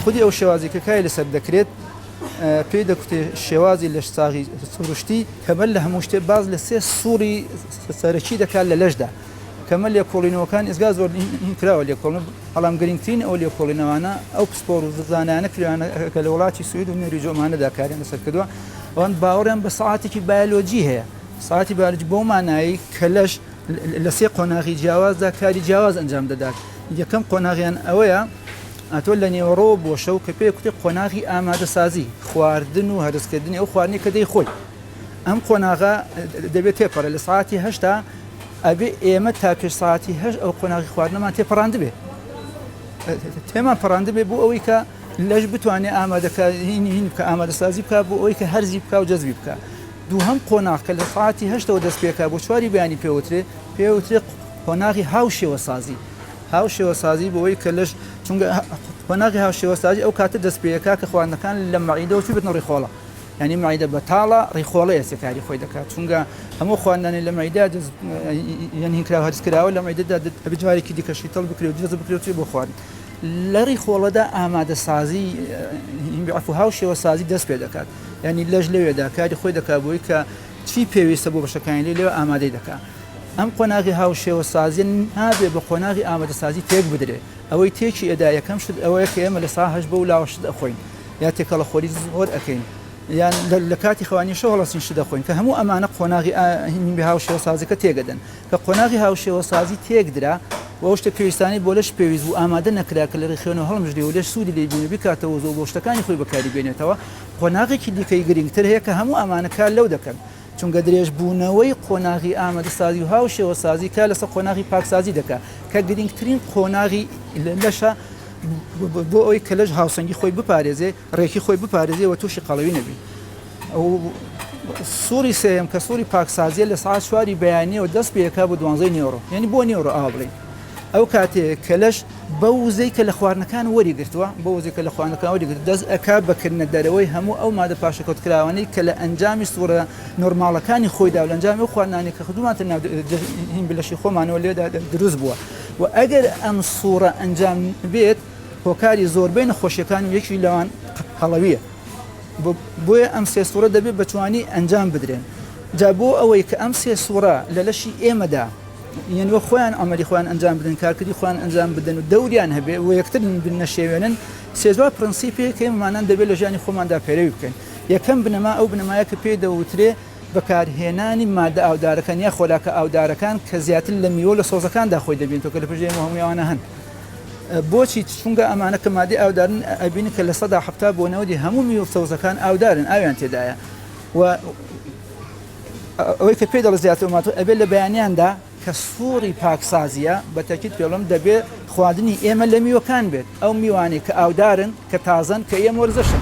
خودی ئەو شێوازی کە کاری لەسەر دەکرێت پێی دەکوتێ شێوازی لەش ساغی سروشتی کەمەر لە هەموو شتێ باز لە سێ سوڕی سەرەکی دەکات لە لەشدا کەمە لێکۆڵینەوەکان ئێزگا زۆر کراوە لێکۆڵن بەڵام گرنگترین ئەو لێکۆڵینەوانە ئەو پسپۆر و زانانە کراوانە کە لە وڵاتی سوید و نوێری جۆمانەدا کاریان لەسەر کردووە ئەوان باوەڕیان بە ساعاتێکی بایۆلۆجی هەیە ساعتی بارج بۆ مانایی کەلەش لە سێ قۆناغی جیاوازدا کاری جیاواز ئەنجام دەدات یەکەم قۆناغیان ئەوەیە ئەتۆ لە نێوەڕۆ بۆ شەو کە پێ کوتی قۆناغی ئامادەسازی خواردن و هەرزکردنی ئەو خواردنی کە دەی خۆی ئەم قۆناغا دەبێت تێپەڕە لە ساعتی هەشتا ئەبێ ئێمە تا پێش سەعاتی هەشت ئەو قۆناغی خواردنەمان تێپەڕاندبێ تێمان پەڕاندبێ بۆ ئەوەی کە لەش بتوانێت ئامادەکارین بکە ئامادەسازی بکە بۆ ئەوەی کە هەرزی بکە و جەزبی بکە دووهم قۆناغ کە لە ساعتی هەشتەوە دەست پێکا بۆ چواری بەیانی پێوترێ پێوترێ قۆناغی هاو شێوەسازی هاو شێوەسازی بۆەوەی کە لەش چونگە قۆناغی هاو شێوەسازی ئەو کاتە دەست پێەکە کە خواردنەکان لە مەعیدەوە چی بتنەڕی خۆڵە یانی معدە بەتاڵە ڕیخۆڵەیە سێ کاری خۆی دەکات چونگە هەموو خواندنی لە معیدە دز یانی کراوە هەرس کراوە لە معیدەدا ئەبی جارێکی دیکە شیتەڵ بکرێت درێز بکرێت چی بۆ خوارد لە ڕیخۆڵەدا ئامادە سازی عفو هاو شێوە سازی دەست پێ دەکات یعنی لەش لەوێدا کاری خۆی دەکات بۆی کە چی پێویستە بۆ بەشەکانی لێ لێو ئامادەی دەکات ئەم قۆناغی هاو شێوە سازی نابێ بە قۆناغی ئامادە سازی تێک بدرێت ئەوەی تێکی ئەدا یەکەم شت ئەوەیە کە ئێمە لە ساهش بە و لاوەشت ئەخۆین یا تێکەڵە خۆری زۆر ئەکەین یان لە کاتی خوانی شەو هەڵەسین شی دەخۆین کە هەموو ئەمانە قۆناغی ئاهینی هاوشێوەسازیەکە تێگەدەن کە قۆناغی هاوشێوەسازی تێکدرا و شتە پێویستانی بۆ لەش پێویست و ئامادە نەکرا کە لە ڕێخێنەوە هەڵمژری و لەش سوودی لێ بینە بکاتەوە زۆ بۆ شتەکانی خۆی بەکاری بێنێتەوە قۆناغێکی دیکەی گرنگتر هەیە کە هەموو ئەمانە کار لەو دەکەن چونکە درێژبوونەوەی قۆناغی ئامادەسازی و هاوشێوەسازی کار لەسەر قۆناغی پاکسازی دەکات کە گرنگترین قۆناغی لەشە بۆ ئەوەی کە لەش هاوسەنگی خۆی بپارێزێ ڕێکی خۆی بپارێزێ و تووشی قەڵەوی نەبی سوری سێم کە سوری پاکسازیە لە سعات چواری بەیانەوە دەست پێکا بۆ دوانزەی نێۆڕۆ یعنی بۆ نێۆڕۆ ئاوا بڵین ئەو کاتێ کە لەش بەو وزەی کە لە خواردنەکان وەریگرتووە بەو وزەی کە لە خواردنەکان وەریگرتووە دەست ئەکا بە کردنە دەرەوەی هەموو ئەو مادە پاشەکەوتکراوانەی کە لە ئەنجامی سووڕە نۆرماڵەکانی خۆیدا و لە ئەنجامی ئەو خواردنانەی کە خدوومانتە ناو هیمبی لەشی خۆمانەوە لێدا دروست بووە و ئەگەر ئەم سووڕە ئەنجام بێت هۆکاری زۆربەی نەخۆشیەکان و یەکی لەوان قەڵەویە بۆیە ئەم سێ سووڕە دەبێت بەتوانی ئەنجام بدرێن جا بۆ ئەوەی کە ئەم سێ سووڕە لە لەشی ئێمەدا یەن وەک خۆیان ئەمەلی خۆیان ئەنجام بدەن کارکردی خۆیان ئەنجام بدەن و دەوریان هەبێ و یەکتر نەشێوێنن سێ چوار پرەنسیپێک هەیە مانان دەبێت لە ژیانی خۆماندا پەیرەوی بکەین یەکەم بنەما ئەو بنەمایە کە پێی دەوترێ بەکارهێنانی مادە ئاودارەکان یا خۆراکە ئاودارەکان کە زیاتر لە میوە لە سۆزەکاندا خۆی دەبینێتەوە کە لە پشت ئێمە هەمووی ئەوانە هەن بۆچی چونگە ئەمانە کە مادەی ئاودارن ئەبین کە لە سەدا حەفتا بۆ نەوەدی هەموو میوە سەوزەکان ئاودارن ئاویان تێدایە و ئەوەی کە پێی دەڵێت زیاتر ئۆماتۆ ئەبێت لە بەیانیاندا کە سوڕی پاکسازییە، بە تەکید پێ بڵێم دەبێت خواردنی ئێمە لە میوەکان بێت، ئەو میوانەی کە ئاودارن، کە تازەن، کە یەم وەرزشن.